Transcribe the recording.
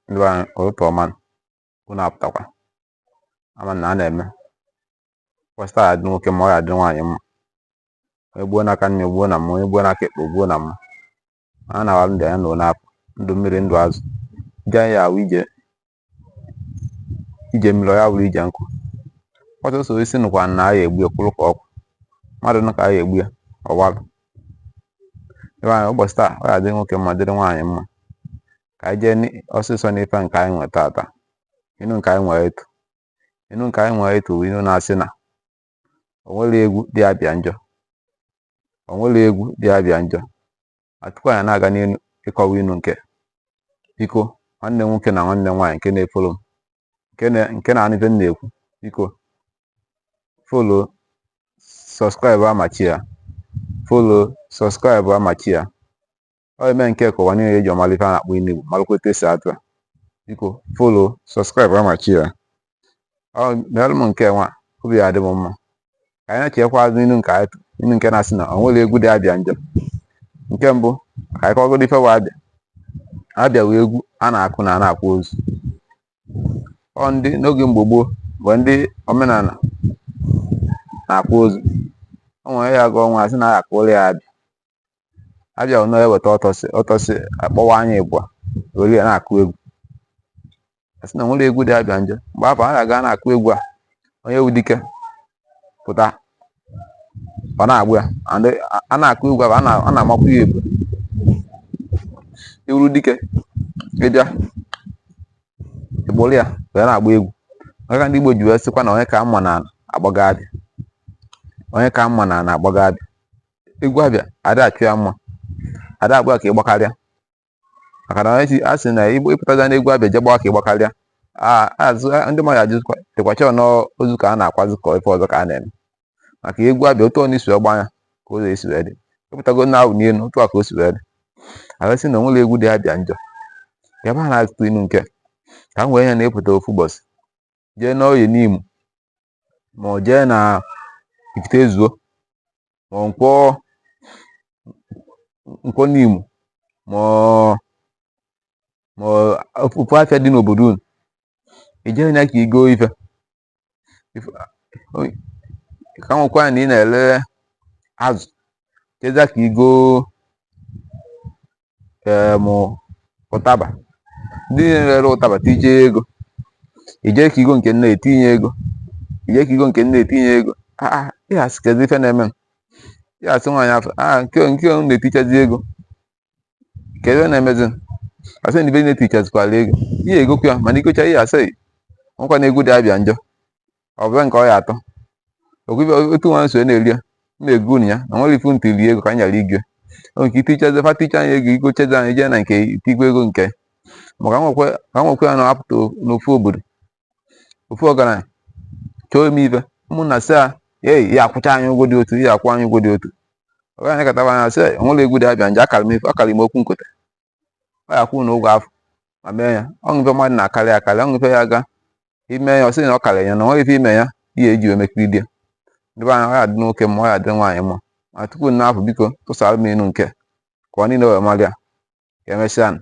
ndị be anyị ụtụtụ ọma unu apụtakwa ama na a na-eme ụbọsị taa ya adị nwoke mma ọ ya adịrị nwaanyị mma onye gbuo n'aka nni gbuo na mma onye gbuo n'aka ekpe gbuo na mma a na-awa ndị anya na ụlọ apụ ndụ mmiri ndụ azụ ije anyị awụ ije ije mmiri ya bụrụ ije nkụ ọ sọsọ osisi nụkwa na a ya egbu ya kwụrụ ka ọ kwụ mmadụ nụ ka a ya egbu ya ọ walụ ebe anyị ụbọchị taa ọ ga-adị nwoke mma dịrị nwaanyị mma ka anyị jeeni ọsịsọ n'ife nke anyị nwere tata inu nke anyị nwere etu inu nke anyị nwere etu bụ inu na-asị na o nwere egwu dị abịa njọ o nwere egwu dị abịa njọ ma tupu anyị na-aga n'iru ịkọwa inu nke biko nwanne nwoke na nwanne nwaanyị nke na-efollow m nke na-anụ ife m na-ekwu biko follow subscribe ma share ya follow subscribe ma share ya ọ ya-eme nke ka ụwa niile ji malụ ife a na-akpọ inu igbo malụkwa etu esi atụ ya biko follow subscribe ma share ya meelụ m nke nwa obi adị m mma ka anyị nachikwa azụ inu nke anyị inu nke na-asị na o nwere egwu dị abịa njọ nke mbụ ka anyị kọgodu ife bụ abịa abịa wụ egwu a na-akụ na a na-akwa ozu ọ ndị n'oge mgbe gboo bụ ndị omenala na-akwa ozu o nwere ya gụọ nwa asị na a ya akụrụ ya abịa abịa ụnọ ya eweta ọtọsị ọtọsị akpọwaa ya ịbụa were ya na-akụ egwu asị na o nwere egwu dị abịa njọ mgbe afụ a na-aga na-akụ egwu a onye wụ dike pụta ọ na-agba ya and a na-akụ egwu a a na-amakwu ya egwu ị wụrụ dike ị bịa ị kpụrụ ya wee na-agba egwu maka ndị Igbo ji wee sịkwa na onye ka mma na agbaga abịa onye ka mma na agbaga abịa egwu abịa a da achọ ya mma a da agba ka ị gbakarịa maka na echi a sị na igbo ị pụtazịa n'egwu abịa je gbawa ka ị gbakarịa azụ ndị mmadụ ajụzikwa dịkwacha n'ozu ka a na-akwazị ka ife ọzọ ka a na-eme maka egwu abịa otu ọ na-esi agba ya ka ụzọ esi wee dị ị pụtago na-awụ n'elu otu a ka o si wee dị arụsị na o nwere egwu dị abịa njọ ya ba na-atụtụ inu nke ka m wee ya na ị pụta ofu ụbọchị jee n'Oye Nimo ma ọ jee na Ifite ezuo ma ọ nkwọ nkwọ Nimo ma ọ ma ọ ofu afịa dị n'obodo unu i jee na ka i go ife Ife- o- ka nwekwa na ị na-ele azụ jeza ka i go em, ụtaba ndị na-ere ụtaba tinye ego ije ka igo nke nne etinye ego ije ka igo nke nne etinye ego Ah, ah, ị ya-asị kedu ife na-eme m? ị ya-asị nwaanyị afọ ah nke nke unu na-etichazi ego kedu ihe na-emezi m? asị na ibe na-etichazikwala ego ị ya-egokwu ya mana igocha ị ya-asị nkwa na egwu dị abịa njọ ọ bụ nke ọ ya atọ okwibe otu nwa nso na-eri ya na-ego unu ya na nwere ifu ntị rie ego ka anyị ghara igwe onwe ike itichazi fa ticha anyị ego igochazi anyị jee na nke itigwe ego nke maka nwekwe ka nwekwe ya na-apụta n'ofu obodo ofu ọgaranya chọọ ime ife ụmụnna sị ya ei ya akwụcha anyị ụgwọ dị otu ya akwụ anyị ụgwọ dị otu ọgaranya kataba anya sị ya nwere egwu dị abịa njọ akara m efu akara m okwu nkota ọ ya-akwụ na ụgwọ afụ ma mee ya ọ bụ ife mmadụ na-akarị akarị ọ bụ ife ya ga ime ya ọ sị na ọ karịrị ya na o nwe ife ime ya ihe eji wee mekiri di ya ndị be anyị ọ ya-adị nwoke mma ọ ya-adị nwaanyị mma ma tupu nna afụ biko tụsara m inu nke ka anyị niile wee mara ya ka emesịa nụ